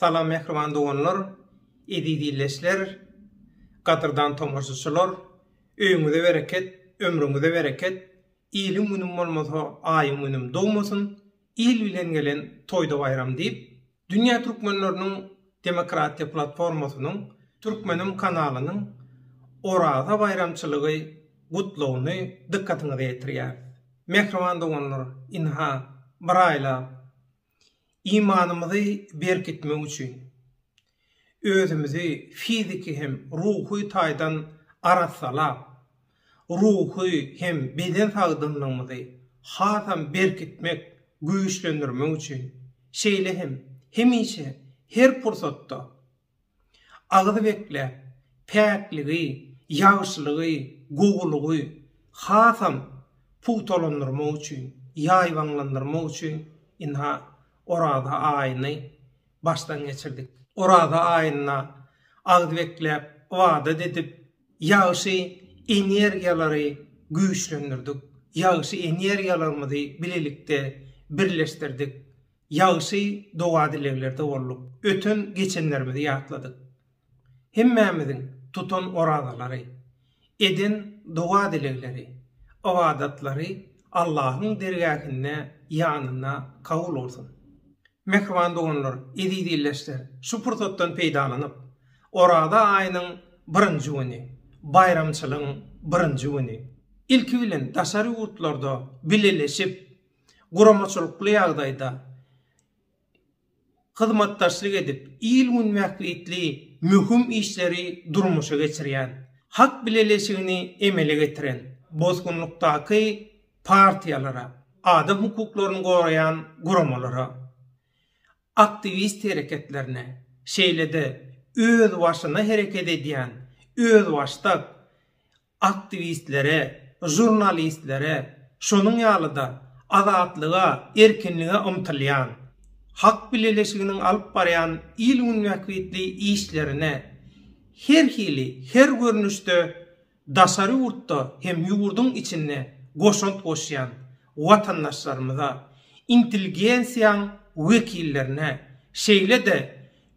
Salam mähriban doganlar, eziz ildeşler, gadyrdan tomaşaçylar, öýüňize bereket, ömrüňize bereket, iliň günüm bolmasa aýyň günüm dogmasyn, il bilen gelen toýda baýram diýip, Dünýä Türkmenleriniň Demokratiýa Platformasynyň Türkmenim kanalynyň Oraza baýramçylygy gutlagyny dykgatyňyza ýetirýäris. Mähriban doganlar, ynha, bir aýlap, Imanymyzy berkitmek üçin, özümizi fiziki hem ruhy taýdan arassalap, ruhy hem beden sagdynlygymyzy hasam berkitmek, güýçlendirmek üçin, şeýle hem hemişe, her pursatda Agyz bekläp, päkligi, ýagşylygy, gowulygy hasam pugtalandyrmak üçin, ýaýbaňlandyrmak üçin ynha, Oraza aýyny başdan geçirdik. Oraza aýynda agyz bekläp, ybadat edip, ýagşy energiýalary güýçlendirdik, ýagşy energiýalarymyzy bilelikde birleşdirdik, Ýagşy doga-dileglerde bolduk, öten, geçenlerimizi ýatladyk. Hemmämiziň tutan orazalary, eden doga-dilegleri, ybadatlary Allahyň dergähinde, ýanynda kabul bolsun. Mähriban doganlar, eziz ildeşler, şu pursatdan peýdalanyp, Oraza aýynyň birinji güni, baýramçylygyň birinji güni, ilki bilen daşary ýurtlarda bileleşip, guramaçylykly ýagdaýda hyzmatdaşlyk edip, il-gün bähbitli möhüm işleri durmuşa geçirýän, hak bileleşigini emele getiren, bosgunlykdaky partiýalara, adam hukuklaryny goraýan guramalara, aktiwist hereketlerine, şeýle-de özbaşyna hereket edýän özbaşdak, aktiwistlere, žurnalistlere, şonuň ýaly-da azatlyga, erkinlige ymtylýan, Hak bileleşiginiň alyp barýan il-gün bähbitli işlerine her hili, her görnüşde daşary ýurtda hem ýurduň içinde goşant goşýan watandaşlarymyza, intelligensiýaň wekillerine, şeýle-de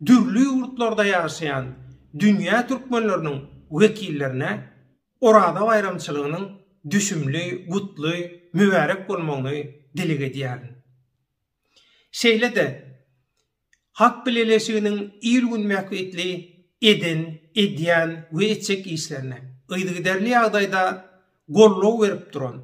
dürli ýurtlarda ýaşaýan dünýä türkmenleriniň wekillerine Oraza baýramçylygynyň düşümli, gutly, mübärek bolmagyny dileg edýärin. Şeýle-de Halk Bileleşiginiň il-gün bähbitli eden, edýän we etjek işlerine, yzygiderli ýagdaýda goldaw berip duran,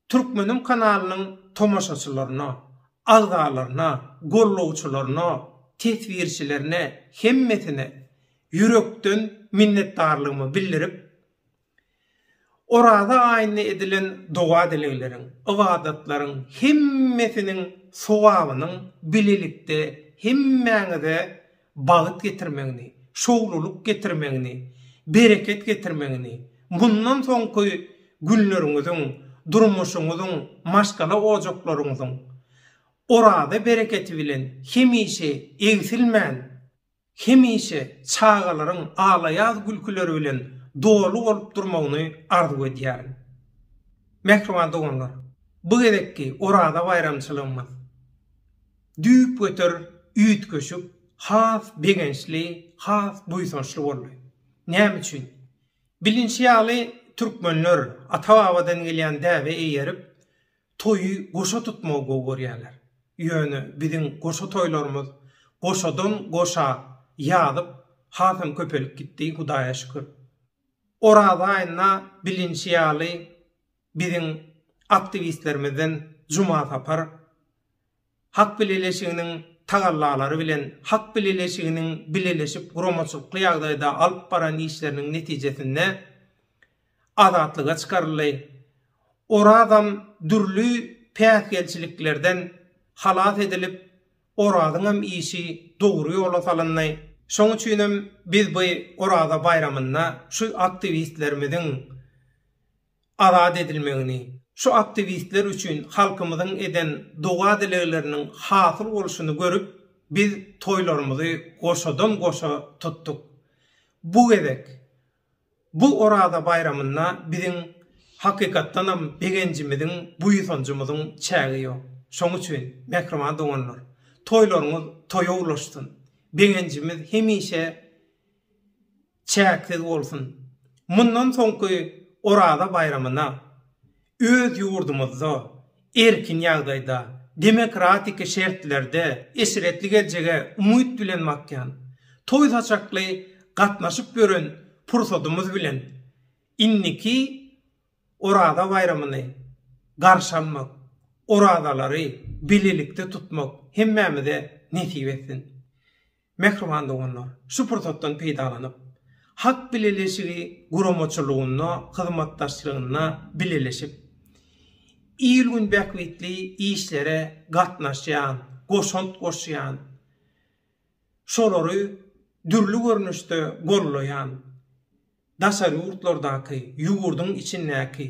Türkmenim kanalynyň tomaşaçylaryna, agzalaryna, gollawçylaryna, teswirçilerine, hemmesine ýürekden minnetdarlygymy bildirip, Oraza aýynda edilen doga-dilegleriň, ybadatlaryň hemmesiniň sogabynyň bilelikde hemmäňize bagyt getirmegini, şowlulyk getirmegini, bereket getirmegini, mundan soňky günleriňiziň, durmuşyňyzyň, maşgala ojaklaryňyzyň Oraza bereketi bilen hemişe egsilmän, hemişe çagalaryň al-aýaz gülküleri bilen doly bolup durmagyny arzuw edýärin. Mähriban doganlar, bu gezekki Oraza baýramçylygymyz Düýpgöter üýtgeşik has begençli, has buýsançly boldy. Näme üçin? Bilinşi ýaly, türkmenler ata-babadan gelýän däbe eýerip, toýy goşa tutmagy gowy görýärler. Ýöne biziň goşa toýlarymyz goşadan-goşa ýazyp, hasam köpelip gitdi, Hudaýa şükür. Oraza aýynda bilinşi ýaly, Biziň aktiwistlerimizden Juma Sapar, Hak bileleşiginiň tagallalary bilen Hak bileleşiginiň bileleşip guramaçylykly ýagdaýda alyp baran işleriniň netijesinde azatlyga çykaryldy. Orazam dürli päsgelçiliklerden halas edilip, Orazyňam işi dogry ýola salyndy. Şonuň üçin hem biz bu Oraza baýramynda şu aktiwistlerimiziň azat edilmegini, şu aktiwistler üçin halkymyzyň eden doga-dilegleriniň hasyl bolşuny görüp, biz toýlarymyzy goşadan-goşa tutduk. Bu gezek, bu Oraza baýramynda biziň, hakykatdanam, begenjimiziň, buýsanjymyzyň çägi ýok. Şonuň üçin, mähriban doganlar, toýlaryňyz toýa ulaşsyn! Begenjimiz hemişe. çäksiz bolsun! Mundan soňky Oraza baýramyna öz ýurdumyzda erkin ýagdaýda, demokratiki şertlerde eşretli geljege umyt bilen bakýan, toý-saçakly gatnaşyp ýören pursadymyz bilen indiki Oraza baýramyny garşy almak, orazalary bilelikde tutmak hemmämize nesip etsin! Mähriban doganlar, şu pursatdan peýdalanyp, Hak bileleşigi guramaçylygynda hyzmatdaşlygynda bileleşip, il-gün bähbitli işlere gatnaşýan, goşant goşýan, şolary dürli görnüşde gollaýan, daşary ýurtlardaky, ýurduň içindäki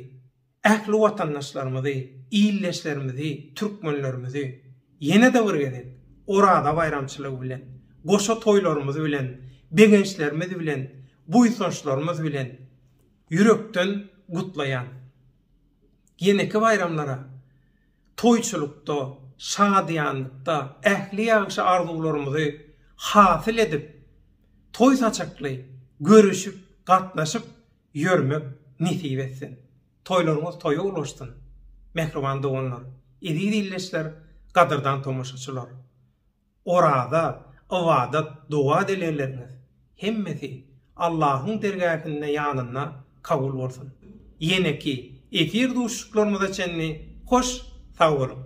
ähli watandaşlarymyzy, ildeşlerimizi, türkmenlerimizi ýene-de bir gezek Oraza baýramçylygy bilen, goşa toýlarymyz bilen, begençlerimiz bilen, buýsançlarymyz bilen ýürekden gutlaýan. Ýeneki baýramlara. Toýçylykda, şadyýanlykda ähli ýagşy arzuwlarymyzy hasyl edip, toý saçakly görüşip, gatnaşyp ýörmek nesip etsin! Toýlaryňyz toýa ulaşsyn! Mähriban doganlar, eziz ildeşler, gadyrdan tomaşaçylar! Oraza, ybadat, doga dilegleriňiz hemmesi Allahyň dergähinde ýanynda kabul bolsun. Ýeneki efir duşuşyklarymyza çenli hoş sag boluň.